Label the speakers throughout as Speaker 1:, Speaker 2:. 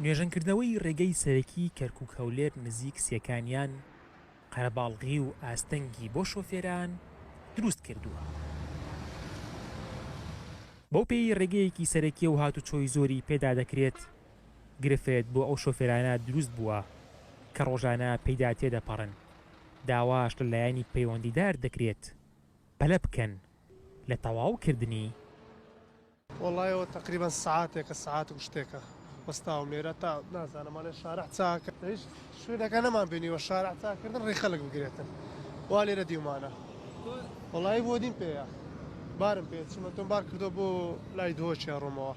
Speaker 1: نۆژەنکردنەوەی ڕێگەی سەرەکیی کەرکووک هەولێر نزیک سێکانیان، قەرەباڵغی و ئاستەنگی بۆ شۆفێران دروست کردووە. بەوپێیەی ڕێگەیەکی سەرەکییە و هاتوچۆی زۆری پێدا دەکرێت، گرفت بۆ ئەو شۆفێرانە دروست بووە کە ڕۆژانە پێیدا تێدەپەڕن، داواش لە لایەنی پەیوەندیدار دەکرێت پەلە بکەن لە تەواوکردنی.
Speaker 2: وەڵای ئەوە تەقریبەن سەعاتێکە سەعات و شتێکە وەستاوم لێرە تا نازانم ئەڵێ شارع چاکە لە هیچ شوێنەکە نەمان بینیوە شارع چاکردن ڕێ خەلک بگرێتن وا لێرە دیومانە وەڵایی بۆ دیم پێەیە بارم پێ چوومە تۆم بار کردو بۆ لای دۆچێ ڕۆمەوە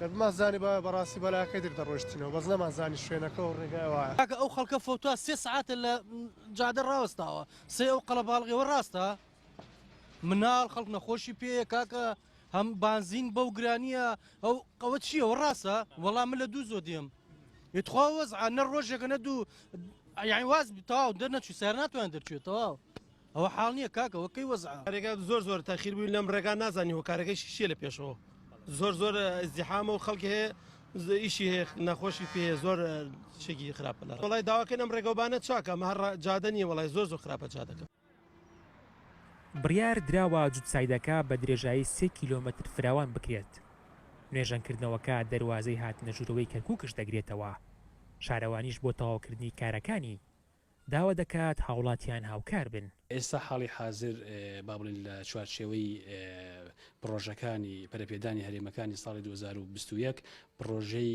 Speaker 2: دەبمان زانی بە بەڕاستی بەلاکەی در دەڕۆشتینەوە بەس نەمان زانی شوێنەکە و ڕێگای وایە کاکە ئەو خەڵکە فەوتا
Speaker 3: سێ سەعاتە لە جادە ڕاوەستاوە سێ ئەو قەڵەباڵغیەوە ڕاستە مناڵ خەڵک نەخۆشی پێیە کاکە هەم بانزین بەو گرانیە ئەو قەوە چییە و ڕاستە وەڵام من لە دوو زۆ دێم یتخوا وەز نە ڕۆژێکە نە دوو یاین واز تاو دەر نەچوی سەر ناتوان دەرچێت تەواو ئەوە حاڵ نییە کاکەەوە کەی وەز ڕێگا زۆر زۆر
Speaker 4: تاخیر بووی لەم ڕێگا نازانی هۆکارەکەی شیشیە لە پێشەوە زۆر زۆر زیحامە و خەڵک هەیە ئیشی هەیە نەخۆشی پێ زۆر شێکی خراپە لە وڵای داواکەن ئەم ڕێگەوبانە چاکە مە هەر جادە نیە وڵای زۆر زۆر خراپە جادەکە بڕیار
Speaker 1: دراوە جوتسایدەکە بە درێژایی سێ کیلۆمەتر فراوان بکرێت. نۆژەنکردنەوەکە دەروازەی هاتنەژوورەوەی کەرکوکش دەگرێتەوە، شارەوانیش بۆ تەواوکردنی کارەکانی، داوا دەکات هاوڵاتیان هاوکار بن. ئێستا حاڵی حازر
Speaker 5: با بڵێین لە چوارچێوەی پڕۆژەکانی پەرەپێدانی هەرێمەکانی ساڵی دوو هەزار و بیست و یەک پڕۆژەی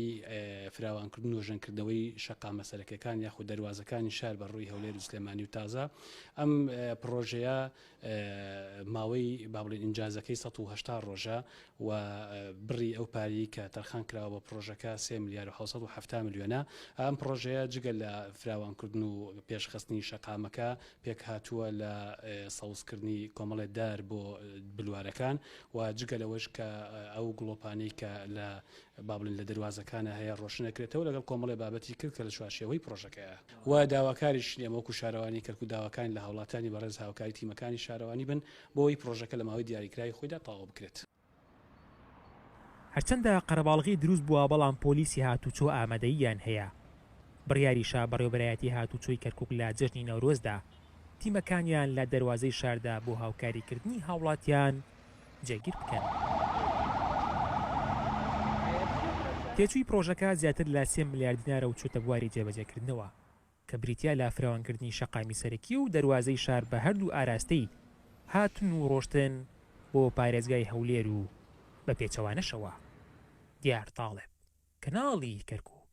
Speaker 5: فراوانکردن و نۆژەنکردنەوەی شەقامە سەرەکیەکان یاخود دەروازەکانی شار بە ڕووی هەولێر و سلێمانی و تازە ئەم پڕۆژەیە ماوەی بابڵین ئینجازەکەی ١٨٠ ڕۆژە و بڕی ئەو پارەی کە تەرخان کراوە بە پڕۆژەکە سێ ملیار و حەوت سەد و حەفتا ملیۆنە ئەم پڕۆژەیە جگە لە فراوانکردن و پێشخستنی شەقامەکە پێکهاتووە لە سەوزکردنی کۆمەڵێ دار بۆ بلوارەکان و جگە لەوەش کە ئەو گڵۆپانەی کە لە با بڵێن لە دەروازەکانە هەیە ڕۆشن ئەکرێتەوە لەگەڵ کۆمەڵێ بابەتی کرد کە لە چوارچێوەی پڕۆژەکەیە و داواکاریشین ئێمە وەکوو شارەوانی کەرکووک داواکاین لە هاوڵاتیانی بەڕێز هاوکاری تیمەکانی شارەوانی بن بۆ ئەوەی پڕۆژەکە لە ماوەی دیاریکراوی خۆیدا تەواو بکرێت.
Speaker 1: هەرچەندە قەرەباڵغی دروست بووە بەڵام پۆلیسی هاتووچۆ ئامادەییان هەیە، بڕیاریشە بەڕێوەبەرایەتی هاتووچۆی کەرکووک لە جەژنی نەورۆزدا تیمەکانیان لە دەروازەی شاردا بۆ هاوکاریکردنی هاوڵاتیان جێگیر بکەن. تێچووی پڕۆژەکە زیاتر لە سێ ملیار دینارە و چووتە بواری جێبەجێکردنەوە. کە بریتیە لە فراوانکردنی شەقامی سەرەکی و دەروازەی شار بە هەردوو ئاراستەی هاتن و ڕۆشتن بۆ پارێزگای هەولێر و بە پێچەوانەشەوە دیار تاڵب کەناڵی کەرکوک.